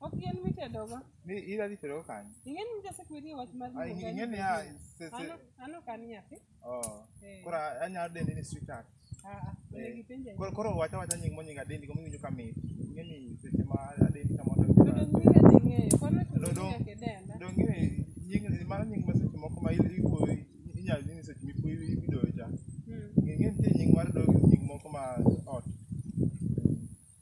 Ok yien mitedogo. Ni ira dhi tedo kanyo. Ing'eni mja sekwiri wach mar Ah, luongo ing'e ni ah, ni- se- se- Ano- ano kan nyathi. Oh. Eh. Koro anyalo dende ni sweetheart. Ah, ah, Eh. onego ipenje. Koro koro wacha wacha nying monying adendi kama iwinjo kamit. Ing'e ni seche ma adendi kama To otem. dong nyinga dhi ng'eyo. Kono to Dong- dong- nyaka idenda. Donge ni nying mano nying ma seche moko ma il- iwuoyo inyalo dhi ni seche mipuoyo idoyo cha. Mm. Ing'e nitie nying mar dogi nying moko ma ot.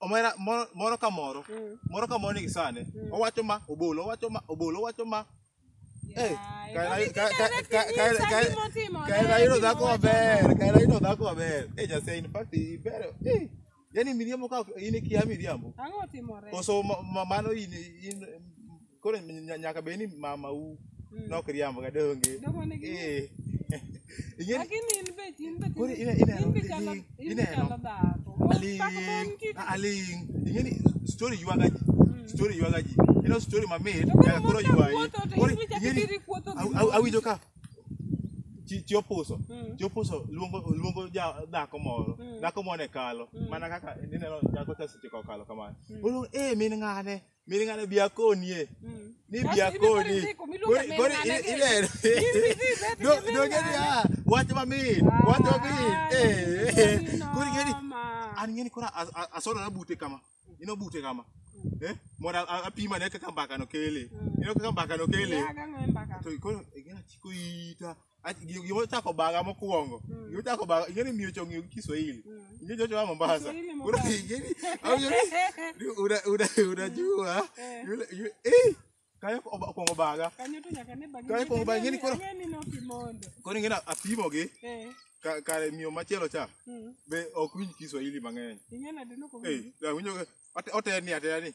omera moro moro ka moro Mm. moro ka moro nigi sane Mm. owacho ma obolo owacho ma obolo owacho ma Eh, Yaye, kae- mami, kae- kae- direct kae- nyisa kae- kae- gima otimo, kae ne, nayudo gima dhako wacho. maber kae nayudo dhako maber eh jase in fact iber eh yani miriambo ka in ikia miriambo Ang'o otimore? koso ma- ma- mano in in koro nya- nyaka bed ni mama u nok riambo ga donge Dogo nigi- Eh. Ing'e- Lakini in be in be Koro ine- ineno- in be chalo in be ineno. chalo dhako. aling Pak mon ki. a- aling ingeni story ywaga ji story ywaga ji ino story mamit To koro nyaka koro mon ka ywayi wuotho to Koro in be chak ingeni- idiri kuotho gi aw- aw- mon. awinjo ka chi chi opuso Mm. chi opuso luongo luongo ja dhako moro Mm. dhako moro ne kalo Mm. mana kaka ineno dhako ka seche ka okalo kamano Mm. oluongo eh min ng'ane Miri ng'ane biakonie. Mm. Ni Basi biakoni. hivi siku, mi luonga Kori- kori mena i- nani? ile- Hivi siku, Do- hivi dogeni siku. ya, wach mamit, wach mamit. Ah, Eh, eh. ni Kori geni, noma. an ng'eni koro as- as- asodo na bute kama. Ino bute kama. Eh, mondo a- apima ne kaka mbaka no kele. Ino kaka mbaka no kele. Yaga ng'emba ka. To koro gina chiko ita. Ach- gi- gima ochako baga mokwongo Mm. gima ochako baga ing'eni miyo chong'eyo gi kiswahili Mm. ing'e chocho wa mombasa Kiswahili Koro Mombasa. ing'eni awinjo ni una- una- unajua Eh. yule- yule- eh, kayo oba- okwongo baga Kanyo to nyaka ne bagi. Kae kuongo bagi ni koro- Ang'e ni nokimondo. koro ing'eni apimogi Eh. ka- kare miyo machielo cha Mm. be ok winj kiswahili mang'eny Ing'e nade Eh, nokowinjo? awinjo ka- ote- oteni ateni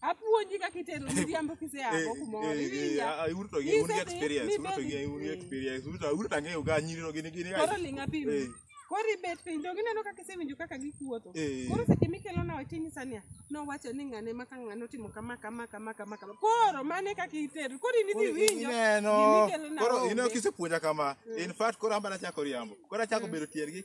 Apuonji kaka itero miriambo kisea Eh, go kumoro. eh, eh, Iwinja. ah, ah, uruto gi- Nyise un gi ni experience, mi uruto gi- baby. un gi experience. Uruto- uruto ang'eyo ga nyirino gini- gini ga- Koro ling' apim. Eh, Koro ibet piny to gineno kaka isewinjo kaka gikuotho. Eh. Koro seche mikelona wach tinyisa niya, nowacho ni ng'ane ma ka ng'ane otimo kama kama kama kama kama. Koro mano e kaka itero. Koro in idhi koro winjo. ineno. gimikelona Koro onge. ineno kisepuonja kama. In fact, koro an bana chako riambo. Koro achako bedo tier gi-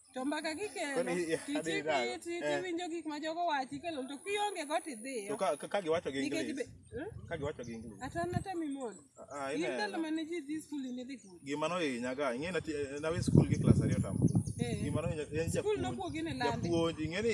to mbaka kikelo Kwani, eh, adhi tichiki dala. ti- Eh. tiwinjo gik ma jogo wachi kelo to kionge go to tidhiyo ka, ka, ka giwacho gi nikech English. be- eh? Ka giwacho gi English. ata nata mimon Ah, ah, in ineno. ndalo mane ji dhi skul in idhi kuro Gima nohinya ga, ing'e nati nawe skul gi klas ariyo tamo. Eh. Gima nohinya en skul japuonj. nokuogi ne landi Japuonj, ing'e ni